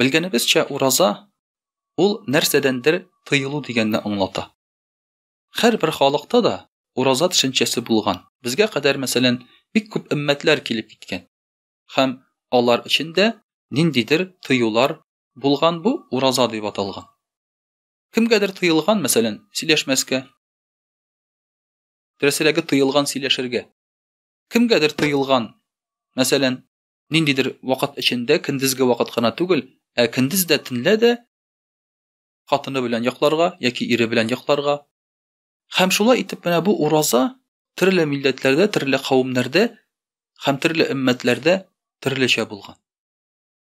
Белгәнебезчә, ураза ул нәрсәдәндер тыелу дигәнне аңлата. Һәрбер халыкта да ураза төшенчәсе булган. Безгә кадәр, мәсәлән, бик күп өммәтләр килеп киткән. Һәм алар эчендә ниндидер тыюлар булган бу ураза дип аталган. Кемгәдер тыелган, мәсәлән, сөйләшмәскә. Дөресрәге тыелган сөйләшергә. Кемгәдер тыелган, мәсәлән, ниндидер вакыт эчендә, көндезге вакыт кына түгел, ә көндез дә, төнлә дә хатыны белән йокларга яки ире белән йокларга. Һәм шулай итеп менә бу ураза төрле милләтләрдә, төрле кавемнәрдә һәм төрле өммәтләрдә төрлечә булган.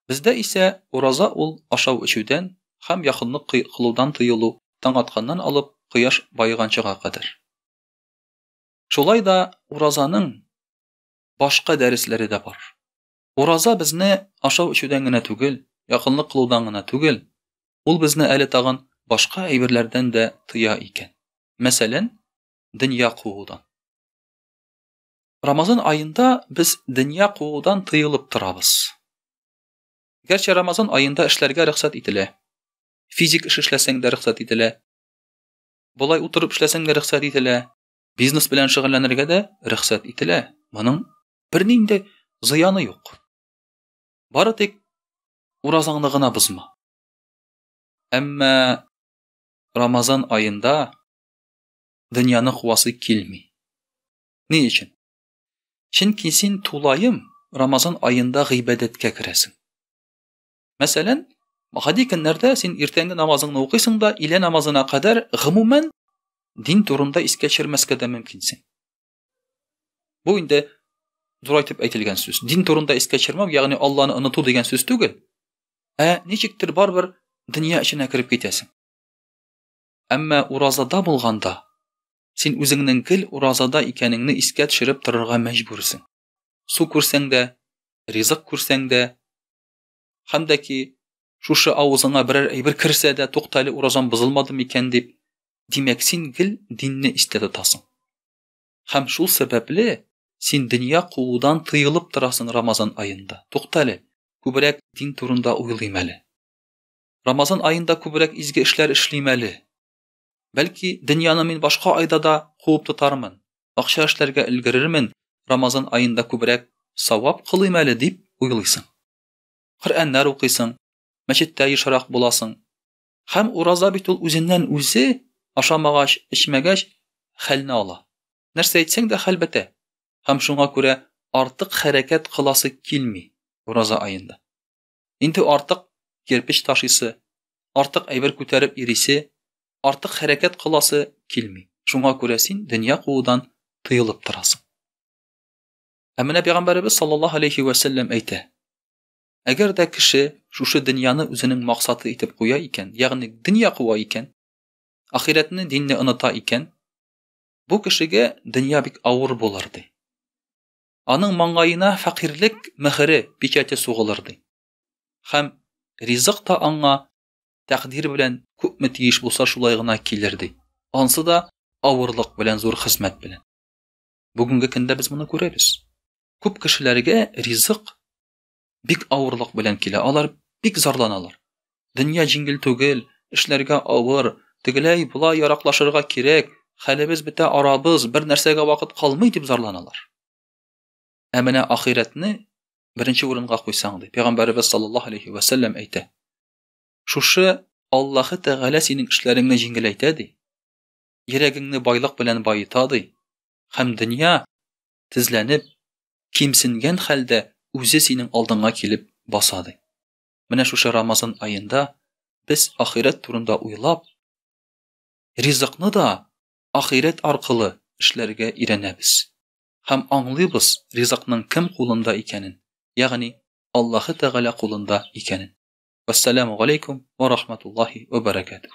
Бездә исә ураза ул ашау эчүдән һәм якынлык кылудан тыелу таң атканнан алып кояш баеганчыга кадәр. Шулай да уразаның башка дәресләре дә бар. Ураза безне ашау эчүдән генә түгел, якынлык кылудан гына түгел, ул безне әле тагын башка әйберләрдән дә тыя икән. Мәсәлән, дөнья куудан. Рамазан аенда без дөнья куудан тыелып торабыз. Гәрчә Рамазан аенда эшләргә рөхсәт ителә. Физик эш эшләсәң дә рөхсәт ителә. Болай утырып эшләсәң дә рөхсәт ителә. Бизнес белән шөгыльләнергә дә рөхсәт ителә. Моның бернинди зыяны юк. Бары тик уразаңны гына бозма. Әмма Рамазан аенда дөньяны куасы килми. Ни өчен? Чөнки син тулаем Рамазан аенда гыйбадәткә керәсең. Мәсәлән, гади көннәрдә син иртәнге намазыңны укыйсың да, илә намазына кадәр гомумән дин турында искә төшермәскә дә мөмкинсең. Бу инде дурайтып әйтелгән сүз. Дин турында искә төшермәү, ягъни Алланы оныту дигән сүз түгел. Ә ничектер барбер дөнья эченә кереп китәсең. Әмма уразада булганда син үзеңнең гел уразада икәнеңне искә төшереп торырга мәҗбүрсең. Су күрсәң дә, ризык күрсәң дә, Хәм дә ки, шушы авызыңа берәр әйбер керсә дә, тукта әле, уразам бозылмады микән дип, димәк, син гел динне истә тотасың. Хәм шул сәбәпле син дөнья куудан тыелып торасың Рамазан аенда. Тукта әле, күбрәк дин турында уйлыйм әле. Рамазан аенда күбрәк изге эшләр эшлим әле. Бәлки, дөньяны мин башка айда да куып тотармын, акча эшләргә өлгерермен, Рамазан аенда күбрәк савап кылыйм әле дип уйлыйсың. Коръәннәр укыйсың, мәчеттә ешрак буласың. Хәм ураза бит ул үзеннән үзе ашамагач, эчмәгәч хәлне ала. Нәрсә әйтсәң дә хәл бетә. Хәм шуңа күрә артык хәрәкәт кыласы килми ураза аенда. Инде артык кирпеч ташыйсы, артык әйбер күтәреп йөрисе, артык хәрәкәт кыласы килми. Шуңа күрә син дөнья куудан тыелып торасың. Ә менә пәйгамбәребез саллаллаһу алейхи вә сәлләм әйтә, Әгәр дә кеше шушы дөньяны үзенең максаты итеп куя икән, ягъни дөнья куа икән, ахирәтне, динне оныта икән, бу кешегә дөнья бик авыр булыр ди. аның маңгаена фәкыйрьлек мөһере, печате сугылыр, ди. Һәм ризык та аңа тәкъдир белән күпме тиеш булса шулай гына килер, ди. Ансы да авырлык белән, зур хезмәт белән. Бүгенге көндә без моны күрәбез. Күп кешеләргә ризык Бик авырлык белән килә. Алар бик зарланалар. Дөнья җиңел түгел, эшләргә авыр, тегеләй була яраклашырга кирәк, хәлебез бетә арабыз, бер нәрсәгә вакыт калмый дип зарланалар. Ә менә ахирәтне беренче урынга куйсаң ди. Пәйгамбәрбез саллаллаһу алейхи ва саллям әйтә. Шушы Аллаһы Тәгалә синең эшләреңне җиңеләйтә ди. Йөрәгеңне байлык белән баета ди. Хәм дөнья тезләнеп, кимсенгән хәлдә үзе синең алдыңа килеп баса ди. Менә шушы Рамазан аенда без ахирәт турында уйлап, ризыкны да ахирәт аркылы эшләргә өйрәнәбез һәм аңлыйбыз ризыкның кем кулында икәнен, ягъни Аллаһы Тәгалә кулында икәнен. Вассаламу галәйкум ва рахматуллаһи ва баракатуһ.